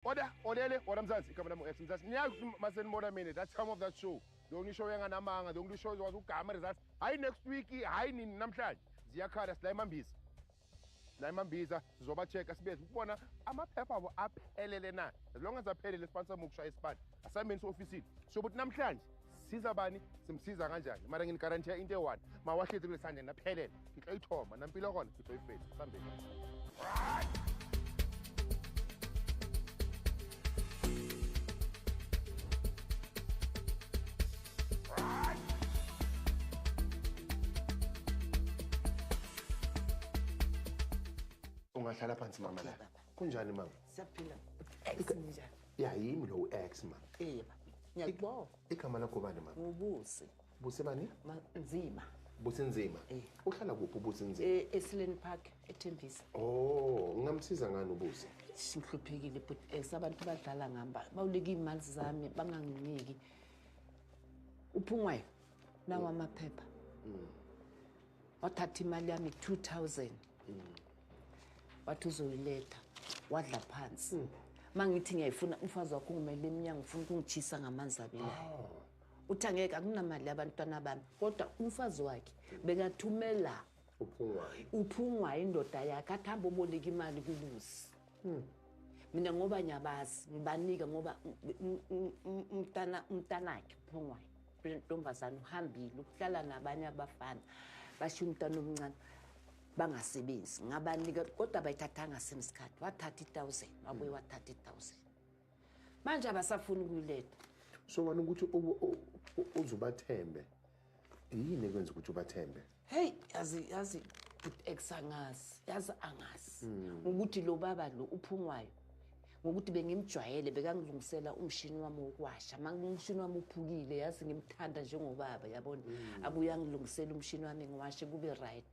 Order, olele, order mzansi, igama lami u-X mzansi. Niyazi ukuthi uma senibona mina, that time of that show, the only show enganamanga, the only show ezokwazi ukugama results. Hhayi next week, hhayi nini namhlanje. Ziyakhala sila emambiza. La emambiza sizoba-check-a sibe ukubona amaphepha abo aphelele na. As long as aphelele sibanisa mukusha isipani. Assignment ofisini. Sho ukuthi namhlanje siza bani simsiza kanjani mara nginigarantiya into eyi-one mawahlezi kule sandla naphelele ngitlo ithoma nampilo kona ngitlo ifesi sambeni ungahlala phansi mama la kunjani mama siyaphila ya yimi lo ex ma eh ma ngiyakubonga igama lakho bani ma ubusi busi bani nzima busi nzima eh. uhlala kuphi ubusi nzima eh esileni park ethembisa oh ngingamsiza ngani ubusi ngihluphekile but eh, sabantu badlala ngamba bawuleka imali zami banganginiki uphungwayo nawa amaphepha mm. wathatha imali yami 2000 mm. wathi uzoyiletha wadla phansi hmm. uma ngithi ngiyayifuna umfazi wakho ungumele emnyango ufuna ukungitshisa ngamanzi abilayo oh. uthi angeke akunamali yabantwana bami kodwa umfazi wakhe bekathumela uphungwa indoda yakhe athi hambe oboleka imali kubuzi hmm. mina ngoba ngiyabazi ngibanika ngoba umntanakhe uphungwayo ntombazane uhambile ukuhlala nabanye abafana bashiya umntana omncane bangasebenzi ngabanika kodwa bayithathanga same sikhathi wathatha i-thousand wabuye wathatha i-thousand manje abasafuni ukuyiletha so wani ukuthi uze ubathembe yini ekwenza ukuthi ubathembe heyi yazi yazi good ex angazi yazi angazi hmm. ngokuthi lo baba lo uphungwayo ngokuthi bengimjwayele bekangilungisela umshini wami wokwasha umshini wami uphukile yazi ngimthanda njengobaba yabona mm. abuye angilungisele umshini wami ngiwashe kube right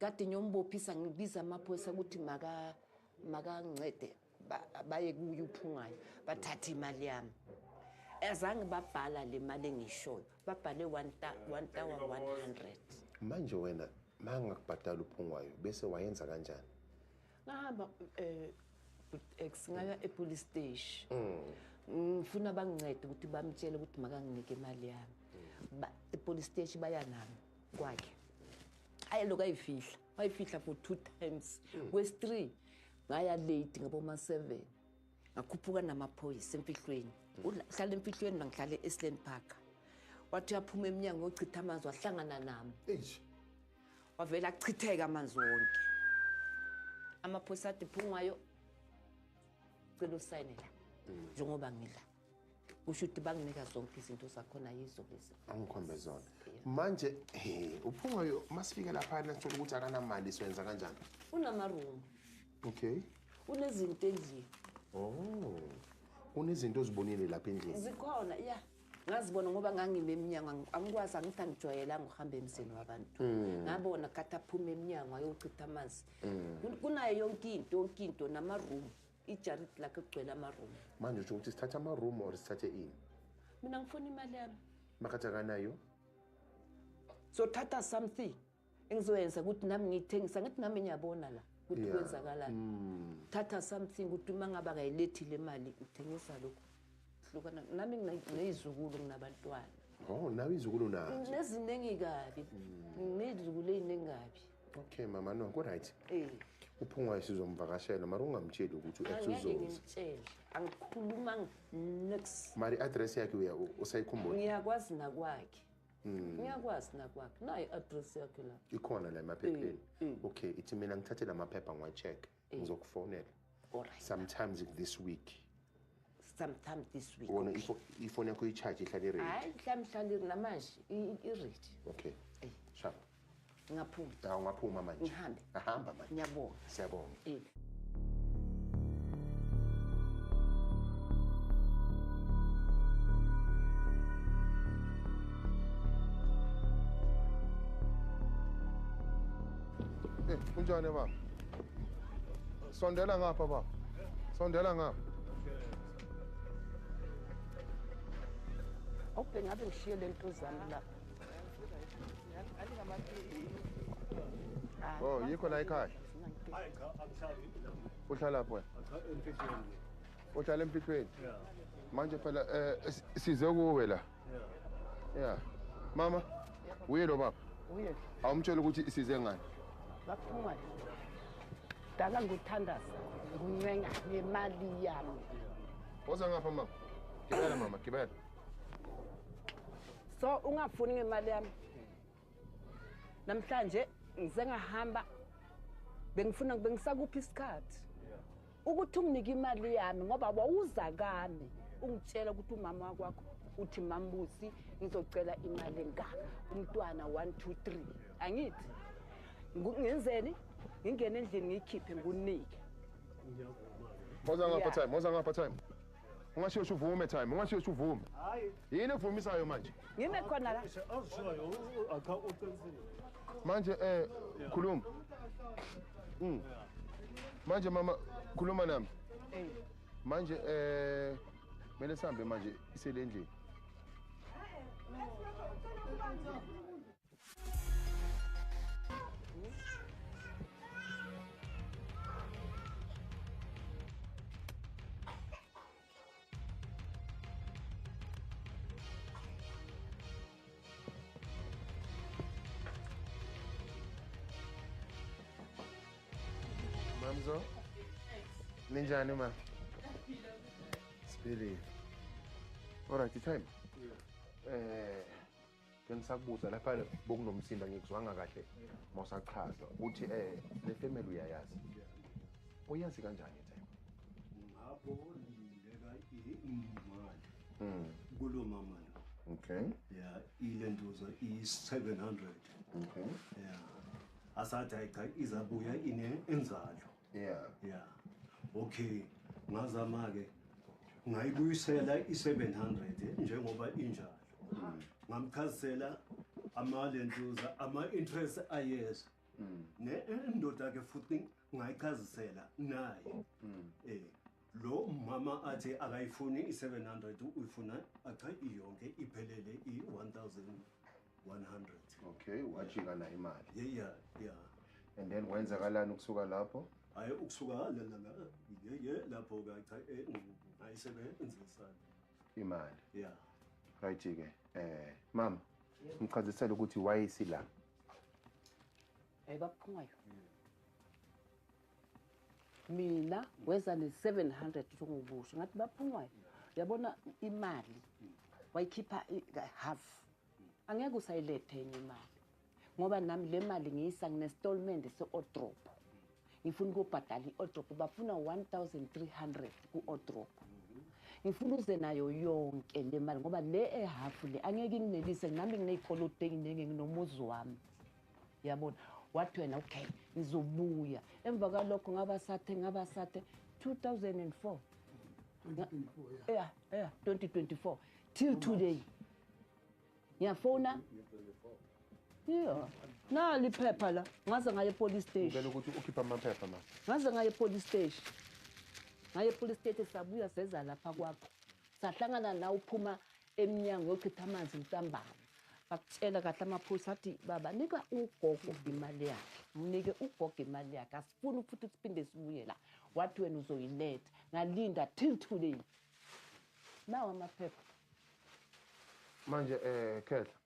Kade ngiyombophisa ngibiza amaphoyisa ukuthi maka makancede baye kuye uphungayo bathathe imali yami azange babhala le mali engishoyo babhale 1100 manje wena mangakubhadala uphungwayo bese wayenza kanjani ngahamba eh singaya epolice station mm. ngifuna bangincede ukuthi bamtshele ukuthi makanginike imali yami mm. epolice station baya nami kwakhe ayi lokho ayifihla wayifihla for two times hmm. kwesi-three ngaya late ngaboma-seven ngakhuphuka namaphoyisa emfihlweni hmm. uhlala emfihlweni mangihlale e-sland park wathi uyaphuma emnyango yochitha amanzi wahlangana nami wavele achitheke amanzi wonke amaphoyisa athi phungayo cela usayine la hmm. njengoba ngila usho ukuthi banginika zonke izinto zakhona yizo lezi angikhombe zona manje he uphungayo masifike laphana sithola ukuthi akanamali siwenza kanjani unamaroom okay unezinto endlini oh unezinto ozibonile lapha endlini zikhona ya ngazibona ngoba ngangime emnyango angikwazi angithi angijwayelanga ukuhamba emzini wabantu hmm. ngabona kade aphume emnyango ayochitha amanzi hmm. kunayo yonke into yonke into namaroom ijarid lakhe kugcwele amaroom manje usho ukuthi sithathe amaroom or sithathe ini mina ngifuna imali yami makhathi akanayo sothatha something engizoyenza ukuthi nami ngiyithengisa ngithi nami ngiyabona la ukuthi kwenzakalani mm. thatha something ukuthi uma ngabe akayilethi le mali uthengisa lokhu hlukana nami ngineyizukulu nginabantwana oh nawe izukulu nazo neziningi kabi mm. ngiyizukulu eziningi kabi Okay mama no ku right. Eh. Uphungwa sizomvakashela mara ungamtsheli ukuthi uyathuzonza. Ngimtshele. Angikhuluma next. Mari address yakhe uya usayikhumbula. Ngiyakwazi nakwakhe. Hmm. Ngiyakwazi nakwakhe. Nayi address yakhe la. Ikhona la emaphepheni. Eh, eh. Okay, ithi mina ngithathe la maphepha ngwa check. ngizokufonela Alright. sometimes this week sometimes this week wona ifo- ifoni yakho i-charge ihlale iredi hayi mhlawumbe mhlawumbe iri namanje i- i- iredi okay Eh. shap ngingaphuma awu ungaphuma manje Ngihambe. ahamba manje ngiyabonga siyabonga Eh. Eh, kunjani baba Sondela ngapha baba. Sondela ngapha. Awubheke ngabe ngishiye le ntuzana la. Oh, yikho la ekhaya. Hayi cha angihlali la. Uhlala pho. Cha emfihlweni. Uhlala emfihlweni. Yeah. Manje phela eh size kuwe la. Yeah. Mama, uye lo baba. Uye. Awumtshela ukuthi size ngani? Baphuma. Dala nguthandaza. Nguncenga nemali yami. Woza ngapha mama. Gibela mama, gibela. So ungafuni ngemali yami? namhlanje ngize ngahamba bengifuna bengisakuphi isikhathi ukuthi unginike imali yami ngoba wawuza kami ungitshela ukuthi umama wakwakho uthi mambusi ngizocela imali engaka umntwana 1 2 3 angithi ngenzeni ngingena endlini ngiyikhiphe ngunike Moza ngapha time, moza ngapha time. Ungasheshi uvume time, ungasheshi uvume. Hayi. Yini evumisayo manje? Ngime khona la. Awushoyo, akha uqinisile. Manje eh khuluma. Mm. Manje mama khuluma nami. Eh. Manje eh mele sambe manje iselendlini. Mamzo? Ninjani ma? Sibili. Alright, time. Yeah. Eh bengisakubuza lapha bokunomsindo angikuzwanga kahle mosachaza ukuthi eh le family uyayazi uyazi kanjani time ngabo lindeka imali mm kulo mama lo okay yeah ile ndoza i 700 okay yeah asathi ayicha izabuya ine enzalo yeah yeah okay ngazama ke ngayibuyisela i700 eh, njengoba injalo hmm. ngamchazisela amalentuza ama-interest ayeza hmm. nendoda ke futhi ngayichazisela naye hmm. eh Lo mama athi akayifuni i-700 uyifuna acha iyonke iphelele i-1100. Okay, wajika nayo imali. Yeah yeah yeah. And then kwenzakalani ukusuka lapho? Hayi ukusuka la la la. Yeah yeah lapho ka cha eh ngayisebenzisa imali. Yeah. Right ke. Eh mama, ngichazisela ukuthi why isila. Hey baphungayo. Yeah. mina weza ne-seven hundred sokukusho ngathi baphungwayo yabona imali wayikhipha half angeke usayilethe enye imali ngoba nami le mali ngiyisa nginesitolmende se-odrop ngifuna ukuyobhadala i-odrop bafuna one thousand three hundred ku-odrop ngifuna uze nayo yonke le mali ngoba le ehafu le angeke inginelise nami nginey'koloto ey'ningi nginomuzi wami yabona wathi wena okay ngizobuya emva kwalokho ngaba sathe ngaba sathe 2004 yeah yeah 2024 till today ngiyafona Yeah. Na liphepha la. Ngaze ngaye police station. Ngicela ukuthi ukhipha amaphepha ma. Ngaze ngaye police station. Ngaye police station sabuya seza lapha kwakho. Sahlangana la uphuma emnyango yochitha amanzi ntambama bakutshela kahle amaphoyisa athi baba nika ugogo imali yakhe mnike ugogo imali yakhe asifuni futhi siphinde sibuye la wathi wena uzoyiletha ngalinda till today nawo amaphepha manje um khehla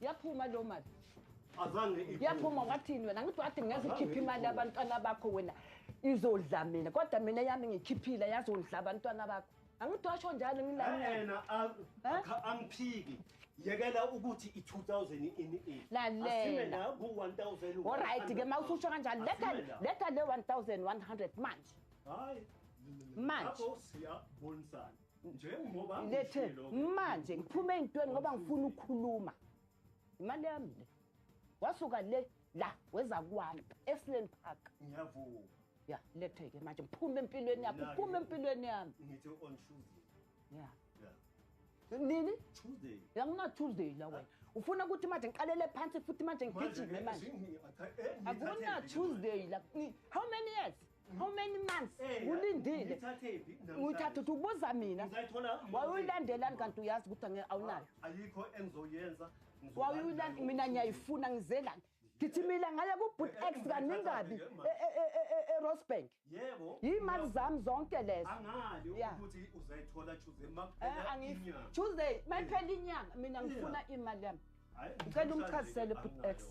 yaphuma lo mali yaphuma wathini wena ngithi wathi ngezikhipha imali abantwana bakho wena izodla mina kodwa mina yami ngikhiphile yazondla abantwana bakho angithi washo njalo ngilana angiphiki yekela ukuthi i-2000 ini lalela ku-1000 olright ke ma ususho kanjalo letha letha le 1100 manje hayi manje siyabonisana njengoba lethe manje ngiphume ezintweni ngoba ngifuna ukukhuluma imali yami le wasuka le la weza kwami eSland Park ngiyavuma ya lethe ke manje ngiphume empilweni yakho ngiphume empilweni yami ngithi on Tuesday ya nini tuesday yangina tuesday la wena ufuna ukuthi manje ngiqalele phansi futhi manje ngigijime manje akuna tuesday la how many years how many months ulindile ngithatha ukuthi ubuza mina wawuyilandelani kanti uyazi ukuthi awunayo ayikho engizoyenza wawuyilani mina ngiyayifuna ngizelani ngithimile ngaye kubut x kaningabi e- e- e- erosbank yebo yimali zami zonke lezo angiyithuze eh, tuesday mayiphela inyanga mina ngifuna imali yami ngicela umchazisele bhut x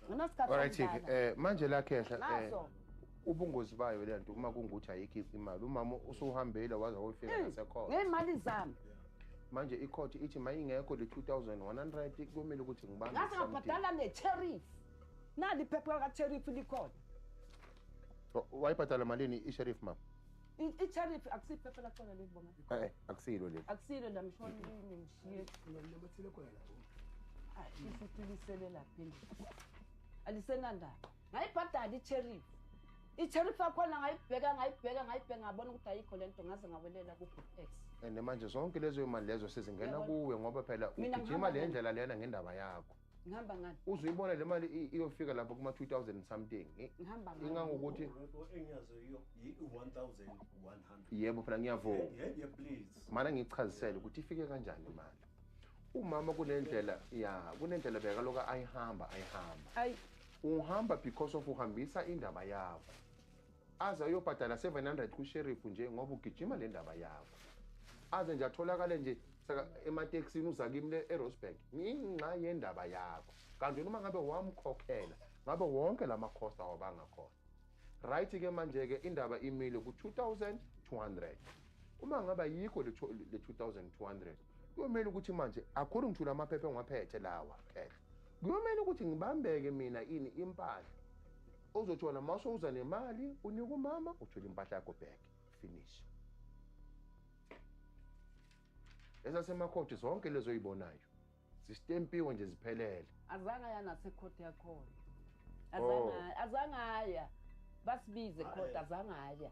nginasikhathi eh manje la khehla eh ubungozi bayo le nto uma kungukuthi ayikho imali umama usuhambile waze wayofika hmm, nasekhona ngemali zami manje ikhothi ithi mayingekho le 2100 kumele ukuthi ngibambe ngase ngabhadala ne tariff nali phepha ka tariff likhona wayibhadala malini i sheriff mama I-tariff akusiphe phela khona leli boma. Eh, eh akusilo leli. Akusilo la mshoni yini ngishiye. Nginamathile khona la. Hayi, sifutilisele lapha endlini. Alisenandaba. Ngayibhadala i-tariff. I-tariff yakhona ngayibheka ngayibheka ngayibheka ngabona ukuthi ayikho le nto ngaze ngawelela ku-X. And manje zonke lezo imali lezo sizingena kuwe ngoba phela ugijima le ndlela lena ngendaba yakho. ngihamba ngani uzoyibona le mali iyofika lapho kuma 2000 something ngihamba ngani ingangokuthi engiyazo iyo 1100 yebo phela ngiyavuma yebo please mana ngichazisele ukuthi ifike kanjani imali umama kunendlela ya kunendlela beka loka ayihamba ayihamba ay uhamba because of uhambisa indaba yakho Aze ayobhadala 700 ku sheriff nje ngoba ugijima le ndaba yakho. Aze nje atholakale nje saka emateksini uza kimi le eRosberg. Nginxa yendaba yakho. Kanti uma ngabe wamkhokhela ngabe wonke lama cost awabanga khona. Right ke manje ke indaba imile ku 2200. Uma ngabe ayikho le 2200 kuyomela ukuthi manje according to lamaphepha engiwaphethe lawa phela kuyomela ukuthi ngibambeke mina ini impahla Ozothola mawusowuza nemali unika umama uthole impahla yakho back. Finish. Ezasemakhoti zonke lezo oyibonayo zistempiwe nje ziphelele. Azange aya nasekhoti yakhona. Azange oh. azange aya. Basibize khona azange aya.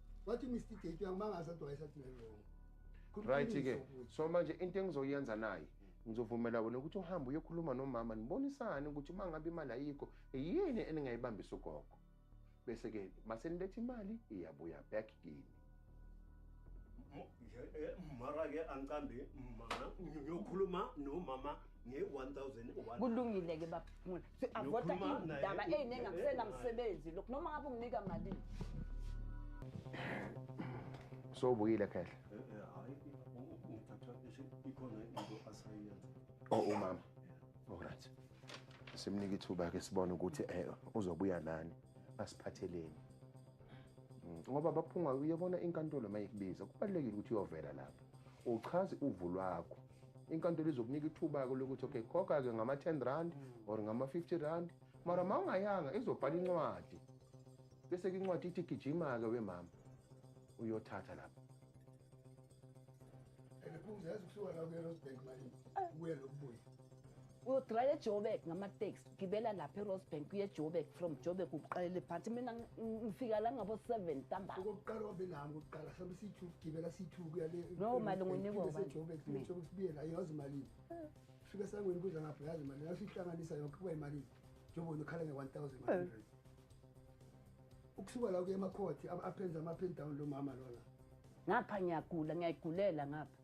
wathi Mr Gate uyangimangaza kodwa wayesathi ngiwrong right ke so manje into engizoyenza naye ngizovumela wena ukuthi uhambe uyokhuluma nomama nibonisane ukuthi uma ngabe imali ayikho yini eningayibambisa ugogo bese-ke maseniletha imali iyabuya back kini eh, mara-ke angicambi mama ngiyokhuluma nomama nge-one thousand kulungile-ke baba si-avota iy'ndaba ey'ningi akusenamsebenzi lokhu noma ngabe unginika malini sobuyile khehle o oh, umama olright simnike ithuba ke sibone ukuthi eh, uzobuya nani asiphatheleni mm, ngoba baphunga uyabona inkantolo mayikubiza kubalekile ukuthi uyovela lapha uchaze uvu lwakho inkantolo izokunika ithuba-ke lokuthi okay khokha-ke ngama-ten rand mm. or ngama-fifty rand mara ma ungayanga izobhala incwadi bese-ke incwadi ithi gijima-ke wemama uyothatha lapho and phumza yazi kuthiwa la kuyena osibheki malini kuye lokubuya uyodraya ejoburg ngamateksi ugibela lapha erosebank kuye ejoburg from joburg uqalele phansi mina ngifika la ngabo-seven ntambaa okokuqala wabe nami kokuqala hlambe siyi-two gibela siyi-two kuya le no mali ngunikosejoburg joburg sibuye la yazi imalini fika sangweni kudla ngapho yazi imalini yasuyihlanganisa yonke kuba imalini njengoba nokhala nge-one thousand one hundred eh. ukusuka la kuye emakhothi aphenza ama-pen down lo mama lona ngapha ngiyagula ngiyayigulela ngapha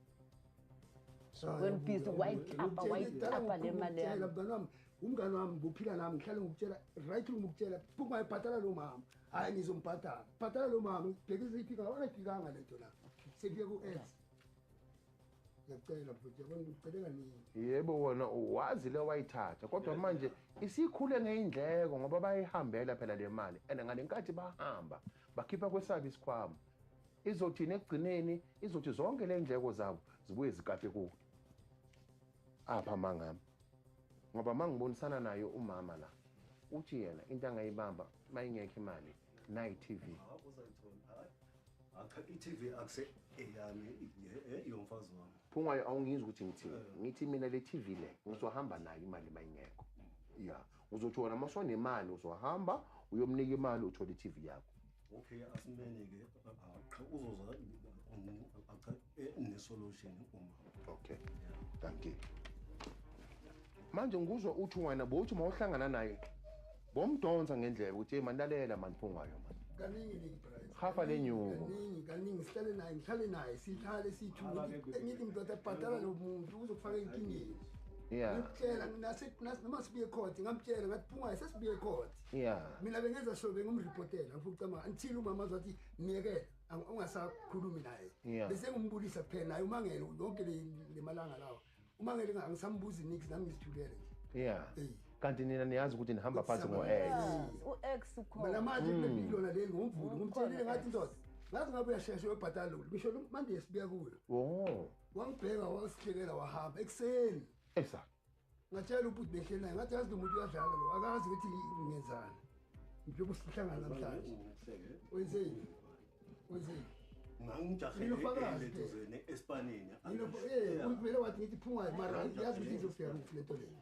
wenibhizi wayitapa wayitapa le mali yami mngani wami umngani wami ngophila nami ngihlale ngikutshela right ngikutshela phuma ebhatala lo mama hayi ngizombhatala bhatala lo mama ngibheke iziphika wona iphikanga lento la sekuye ku ex ngiyacela futhi yabona ngicela nini yebo wona wazi le wayithatha kodwa manje isikhule ngeindleko ngoba bayihambela phela le mali and ngalenkathi bahamba bakhipha kwesabo isikhwama Izothini ekugcineni izothi zonke le ndleko zabo zibuye zikape kuwe. Apha mangami. Ngoba mangibonisana naye umama la uthi yena into angayibamba mayingekho imali nayi TV. Acha iTV akuse eyami eh, yomfazi wami. Phungwayo awungizwa ukuthi ngithini. Eh. Ngithi mina le TV le ngizohamba nayo imali mayingekho. Yeah. uzothi wona uma sonemali uzohamba uyomnika imali uthole i-tv yakho okay asimele ke qha uzoza acha eh, ne-solution uma okay thank you manje ngikuzwa uthi wena bowuthi uma uhlangana naye bomdonsa ngendlela ukuthi hey manilalela mani phungayo mani kaningi ningi price hafa le nyuko kaningi kaningi sihlale naye ngihlale naye sihlale sithu ngithi ngithi mdoda bhadala lo muntu uzokufaka inkingeni yeah ngimtshela nginase nase noma sibuye court ngamtshela ngathi phunga sesibuye court yeah mina bengenza sure bengumreportela ngifuna ukucama until umama azothi miyekela ungasakhulumi naye yeah. bese ngumbulisa kuphela naye umangele yonke le lemalanga lawo umangele ngisambuzi nix nami ngizithulele nje yeah hey kanti nina niyazi ukuthi nihamba phansi ngo ex u ex ukhona mina manje mm. kulona leli ngomvulo ngumthelile ngathi indoda ngazi ngabe uyashesha uyobhatala lokhu ngisho manje sibuya kuyo oh wangibheka wasihlekela wahamba ekuseni esa ngatshela ubhuti behleli naye ngathi yazi lo muntu uyadlala lo akazi ukuthi ngenzani njengoba sihlangana namhlanje wenzeni wenzeni ngangijaheleeduzene esipanini eh, vele wathi ngithi phungayo mara yazi ukuthi izofika kuphi le nto leyo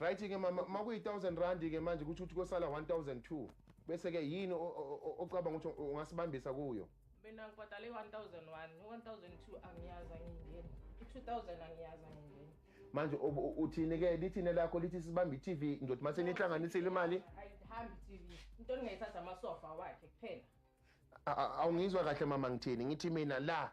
Right ke mama makuyi 1000 rand ke manje ukuthi uthi kosala 1002 bese ke yini ocabanga ukuthi ungasibambisa kuyo mina ngibhadale 1001 1002 angiyazi angingeni 2000 angiyazi angingeni manje uthini ke lithini lakho lithi sibamba iTV ndothi mase nihlanganisile imali ayihambi iTV into engayithatha amasofa wakhe kuphela awungizwa kahle mama ngithini ngithi mina la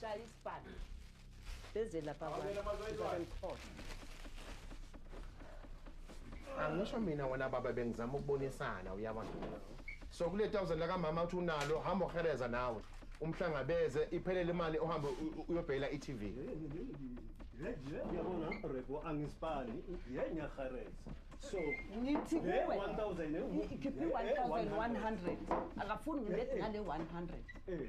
shaya isibhalo beze lapha kwaemkhotha angisho mina wena baba bengizama ukubonisana uyaba so kule thousand lakamama uthi unalo hamba uhereza nawe umhlangabeze iphelele imali ohambe uyobhekela i-tv yabona rebo angisibali ye ngiyahareza so ngithi kuwe ikhiphe i-1100 akafuni ngilethe ngale 100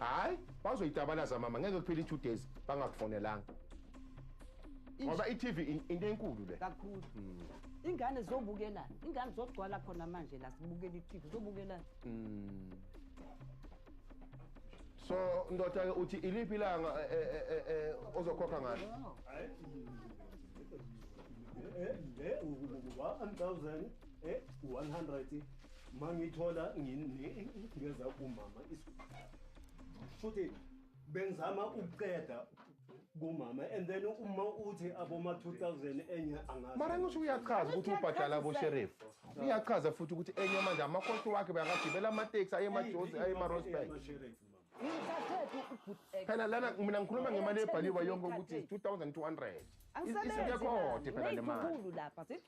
hayi bazoyitabalaza mama ngeke kuphele i-two days bangakufonelanga ngoba i-tv into enkulu le kakhulu hmm. ingane zobukelani ingane zogcwala khona manje la sibukela i-tv zobukelani hmm. so ndoda-ke uthi iliphi ilanga eh, eh, eh, ozokhokha ngalo mangithola ngeza kumama futhi bengizama ukuqeda kumama and then uma uthi aboma-2000 enye mara ngisho uyachaza ukuthi ubhadala abosherifu uyachaza futhi ukuthi enye manje amakhosi wakhe bayakagibela amateksi aye emajozi aye emarosburg phela lana mina ngikhuluma ngemali ebhaliwe yonke ukuthi 2200 isinyekhote phela le mali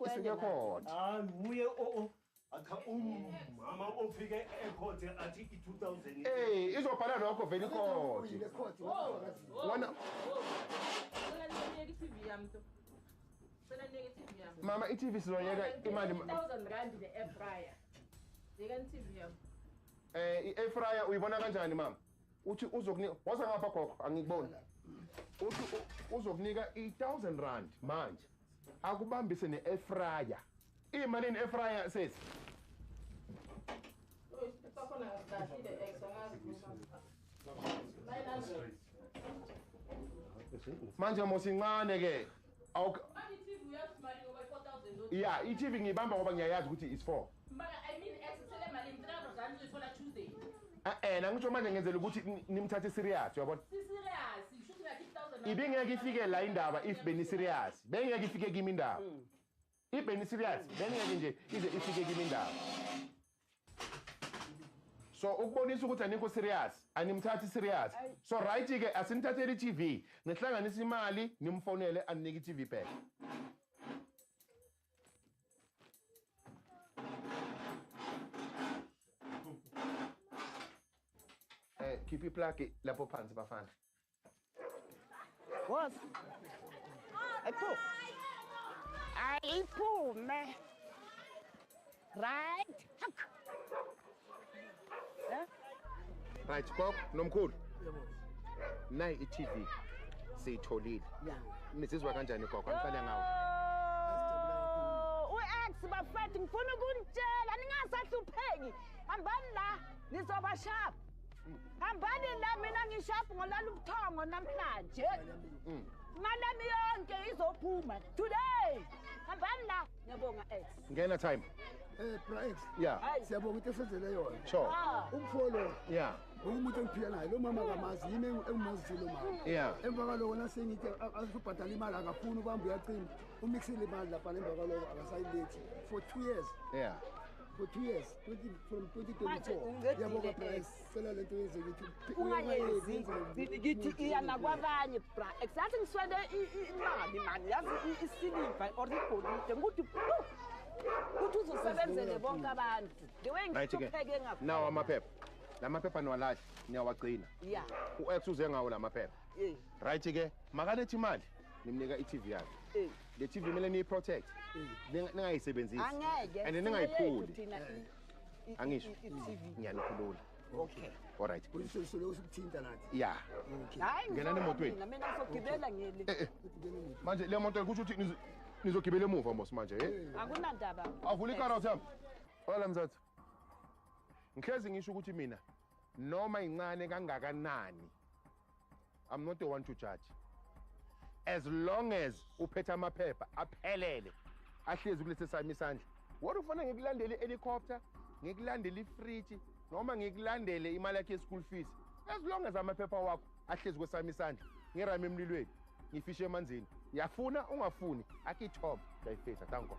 isinyekhote hayi nguye o o acha umama ofike ekhothe athi i-2000 ey izobhala lokho vele ikhothe wona mama i-tv sizoyeka imali 1000 rand ne-air fryer yekani i-tv yami Eh i-air fryer uyibona kanjani mama? Uthi uzokunika waza ngapha gogo angikuboni. Uthi u- uzokunika i1000 rand manje. Akubambise ne-air fryer. Imalini air fryer sesi? Manje mosincane ke. Awuk Manje iTV uyazi imali ngoba 4000 lodwa. Yeah, iTV ngiyibamba ngoba ngiyayazi ukuthi is 4. Mbala I mean ex sele imali in 300 rand uzoyithola Tuesday. Eh eh ngisho manje ngenzela ukuthi nimthathe serious uyabona? Si serious, ishuthi ngathi 1000. Ibingeke ifike la indaba if beni serious. Bengeke ifike kimi indaba. Mm. Ibheni serious bengeke nje ize ifike kimi indawo. So ukubonisa ukuthi anikho serious, animthathi serious. So right ke asinithatheli TV, nihlanganisa imali nimfonele aninike TV back. Eh, keep it plucky lapho phansi bafana. Boss. Ayiphu. Ayiphume. Right. Hak. Eh? Right, Kok, nomkhulu. Yebo. Nayi i-TV. Siyitholile. Yeah. Nizizwa kanjani Kok? Angiqale ngawo. Oh, U-ex bafethu ngifuna ukunitshela ningasahlupheki. Hambani la. Nizoba sharp. hambani la mina ngishafu ngolala ubuthongo namhlanje mm. imali yami yonke izophuma today hambani la ngiyabonga ex ngena time Eh Praex. Yeah. Siyabonga into esenzele yona. Sure. Ah. Umfolo. Yeah. Umuntu engiphila naye lo mama kamazi yini engimazi lo mama. Hmm. Yeah. Emva kwaloko nasengithi azobhadala imali akafuni ubamba uyacima. Umixile imali lapha emva kwaloko akasayilethi for 2 years. Yeah. for two years 20, from 2024 yabonga bra sicela le nto yenze ukuthi ungayenzi ngithi iya nakwabanye bra exactly ngiswele imali mani yazi isiliva or igolide ngikuthi ukuthi uzosebenzele bonke abantu the way ngithupheke ngakho nawo amaphepha la maphepha niwalahle niyawagcina ya u-x uze ngawo la maphepha right-ke makalethi imali nimnika i-tv yakhe le TV kumele niyiprotect ningayisebenzisi angeke and ningayiphuli angisho ngiyanikhulula okay all right kulise sule usukuthinta nathi yeah okay hayi ngena nemotweni mina mina ngizogibela ngeli eh, eh. manje le moto kusho ukuthi nizogibela emuva mos manje eh, eh. akunandaba avula ikara uthamba wala mzathu ngihlezi ngisho ukuthi mina noma incane kangakanani I'm not the one to judge as long as uphethe amaphepha aphelele ahlezi kulesi sami isandla wona ufanele ngikulandele i-helicopter ngikulandele ifriji noma ngikulandele imali yakhe ye-school fees as long as amaphepha wakho ahlezi kwesami isandla ngirame emlilweni ngifishe emanzini yafuna ungafuni akithoma dayifetha thank god